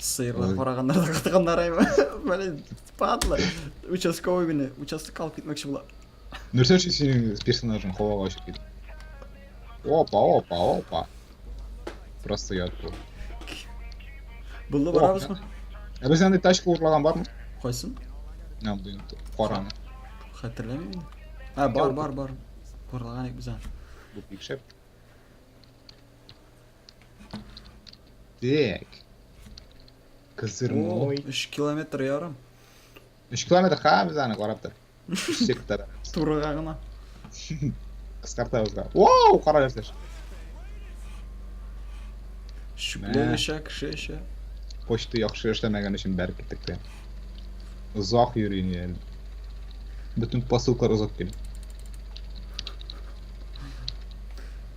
Сыерлар Ой. караганнар да катыганнар әйме. Блин, падла. Участковый генә, участок алып китмәкче була. Нәрсә өчен синең персонажың һавага очып китте? Опа, опа, опа. Просто я тут. Булды О, барабызмы? Ә без андый тачка урлаган бармы? Кайсын? Нәм дин караны. Хәтерләмим инде. А, бар, бар, бар. Урлаган ик без аны. Бу пикшәп. Так. Козырной. 3 километр ярым. 3 километр ха без аны карап тор. Үсек тар. Турыга гына. Кыскартабыз да. Вау, кара ясаш. Шүкләр эшә, кеше эшә. Почта яхшы эшләмәгән өчен бәреп киттек тә. Озак йөрим әле. Бөтен посылкалар озак килә.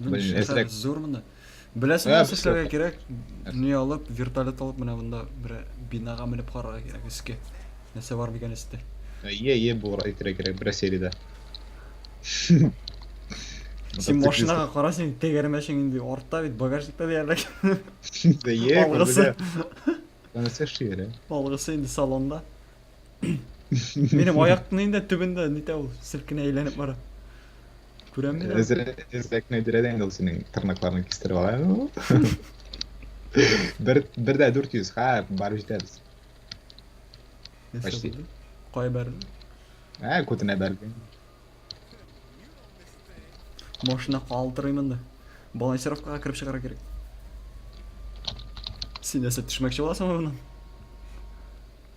Мин Блин, швейцар эсрәк. зур монда. Беләсең Ә, нәрсә без эшләргә кирәк? Не алып, вертолет алып менә монда бер бинага менеп карарга кирәк өскә. Нәрсә бар микән өстә? Е, е, булыр, әйтергә кирәк, бер сериядә. Син машинаға кара син тәгәрмәшең инде артта бит багажникта диярлек. Е, Алгысы. Концерт шигере. Алгысы инде салонда. Минем аяктын инде төбендә нитә ул, селкенә әйләнеп бара. Күрәм мин. Эзрәкне дирәдә инде ул синең тырнакларны кистереп ала. Бер бер дә 400, ха, барып җитәбез. Почти. Кая бәрде? Ә, күтенә бәрде. Машина калтырыймын да. Балансировкага кереп чыгара кирәк. Син нәрсә төшмәкче буласыңмы моннан?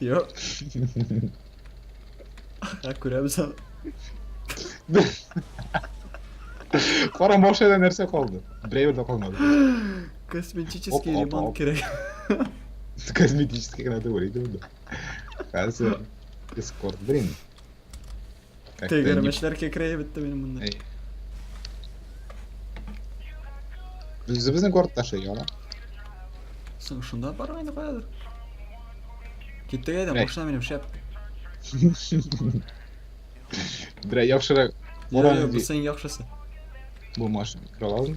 Йо. Ә күрәбез аны. Кара машинада нәрсә калды? Берәү дә калмады. Косметический Оп, оп, ремонт оп. кирәк. Косметический генә түгел иде монда. Хәзер Discord, блин. Как-то не- Тегермешләр кекрәеп бетте минем монда. Эй. Үзе безнең гортта ши, яла. Соң шунда бармый инде каядыр. Киттек әйдә, Әй. машина минем шәп. Бля, яхшырак. Йо, Буран йо, бу ди. синең яхшысы. Бу машина. Киралазмы?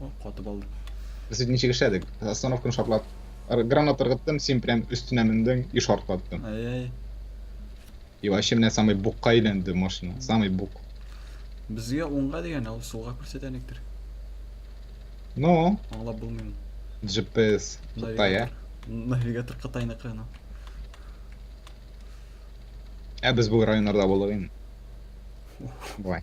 О, катып алдым. Без ит ничек эшләдек? Остановканы шартлап, ыр- гранат ыргыттым, син прям өстенә мендің и шартлаттың. Ай-яй. И вообще менә самый букка әйләнде машина. Самый бук. Безгә уңга дигән, ул сулга күрсәтә электр. Но Аңлап булмыйм. GPS Кытай, ә? Навигатор. Навигатор Кытайныкы ана. Ә без бу районнарда булдык инде. Давай.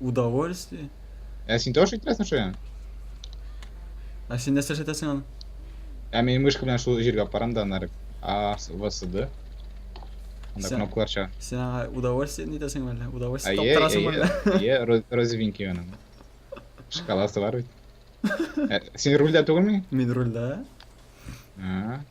Удовольствие? Ә син тоже иттерәсең шуя? Ә син нәрсә эшләтәсең аны? Ә мин мышка белән шул җиргә барам да аннары А, В, С, Д. Анда Сән- кнопкалар чыга. Сен аңа удовольствие не итәсең әллә? Удовольствие Әйе, таптырасың әйе, әллә? әйе, роз- розовенький аның. Шкаласы бар бит. Ә, Син рульдә түгелме? Мин рульдә. А,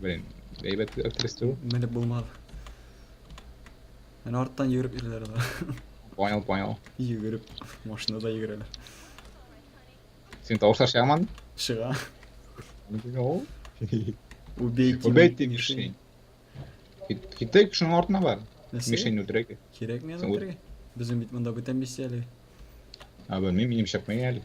Блин, әйбәт әптересте бу. Менеп булмады. Менә арттан йөгереп йөриләр алар. Понял, понял. Йөгереп, машинада йөгерәләр. Син тавышлар чыгаман? Чыга. Ул. Убейте. Убейте мишень. Китек шуның артына бар. Мишень үтерәк. Кирәк мен үтерәк. Безнең бит монда бүтән миссия әле. А, белмим, минем чапмый әле.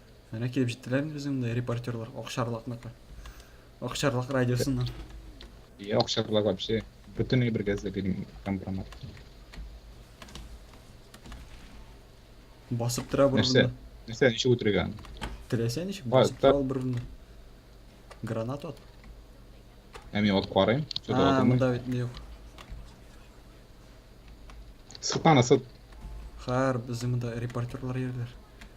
Әнә килеп җиттеләр инде безнең монда репортерлар Акчарлакныкы. Акчарлак радиосыннан. Я акчарлак вообще бөтен бер газда бирим компромат. Басып тора бер Нәрсә? урында. Нәрсә ничек үтергән? Теләсә ничек Бар, басып тора ул бер урында. Гранат от. Ә мин от карыйм. Что-то А, отымый. монда бит юк. Сытан сыт. Хәр безнең монда репортерлар йөрләр.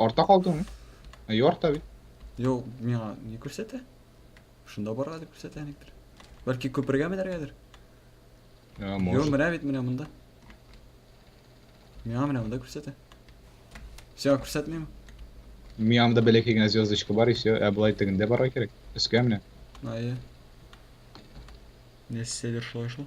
Арта калдыңмы? Ә ярта бит. Юк, миңа не күрсәтә. Шунда барга дип күрсәтә никтер. Бәлки күпергә менәргәдер? Ә, Юк, может. менә бит менә монда. Миңа менә монда күрсәтә. Сиңа күрсәтмиме? Миямда бәләкәй генә звездочка бар и все. Ә былай тегендә барга кирәк. Өскә менә. Ае. Нәрсәдер шулай шул.